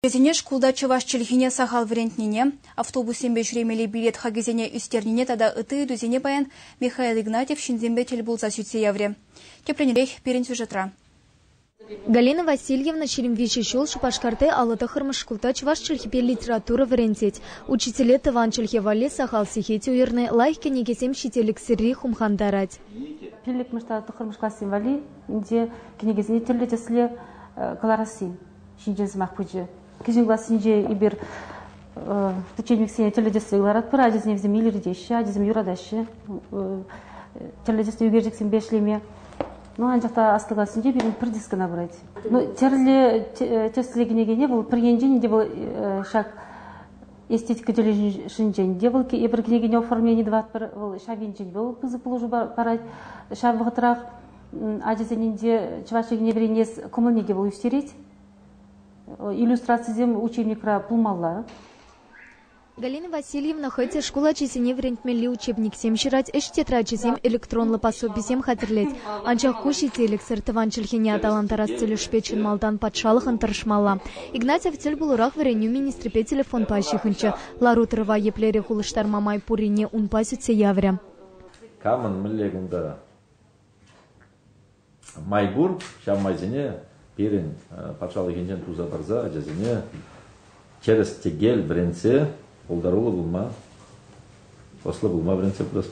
Вӗсене шкулта чӑваш чӗлхине сахал вӗрентнине, автобуссемпе ҫӳремелли билет хакӗсене ӳстернине тата ытти ыйтусене паян Михаил Игнатьев ҫынсемпе тӗл пулса сӳтсе яврӗ. Тӗплӗнрех пирӗн сюжетра. Галина Васильевна ҫирӗм виҫӗ ҫул Шупашкарти аллӑ тӑххӑрмӗш шкулта чӑваш чӗлхипе литература вӗрентет. Учителе тӑван чӗлхе валли сахал сехет уйӑрнӑ, лайӑх кӗнекесем ҫителӗксӗрри хумхантарать. Пиллӗкмӗш тата тӑххӑрмӗш классем валли ӗнтӗ кӗнекесене тӗрлӗ тӗсле кӑларасси. ҫинчен сӑмах пычӗ. Кӗҫӗн классенче эпир теченниксене тӗрлӗ тӗслӗ ларатпӑр. Ачасене вӗсем илӗртеҫҫӗ, ачасем юратаҫҫӗ тӗрлӗ тӗслӗ ӳкерчӗксемпе ӗҫлеме. Ну, анчах та аслӑ классенче пирӗн пӗр диск кӑна пырать. Ну, тӗрлӗ тӗслӗ кӗнекене вӑл пӗр енчен те вӑл ҫак эстетика тӗлӗшӗнчен те вӑл эпир кӗнекене оформлени тӑватпӑр, вӑл ҫав енчен вӑл пысӑк пулӑшу парать. Ҫав вӑхӑтрах ачасенче чӑваш чӗлхине вӗренес кӑмӑлне те вӑл ӳстерет. Иллюстрацисем учебникра пулмалла. Галина Васильевна хӑй те шкул ачисене вӗрентмелли учебниксем ҫырать, ӗҫ тетрачӗсем электронлӑ пособисем хатӗрлет. Анчах ку ҫителӗксӗр тӑван чӗлхене аталантарас тӗлӗшпе чӑн малтан патшалӑхӑн тӑрӑшмалла. Игнатьев тӗл пулурах вӗренӳ министрӗпе телефонпа ҫыхӑнчӗ. Лару-тӑрӑва еплерех улӑштарма май пуррине унпа сӳтсе яврӗ. Камӑн мӗнле кунта? Май пур, ҫав майсене пирӗн патшалӑхӗнчен туса тӑрса ачасене тӗрӗс-тӗкел вӗрентсе пултаруллӑ пулма, ӑслӑ пулма вӗрентсе пырӑпӑр.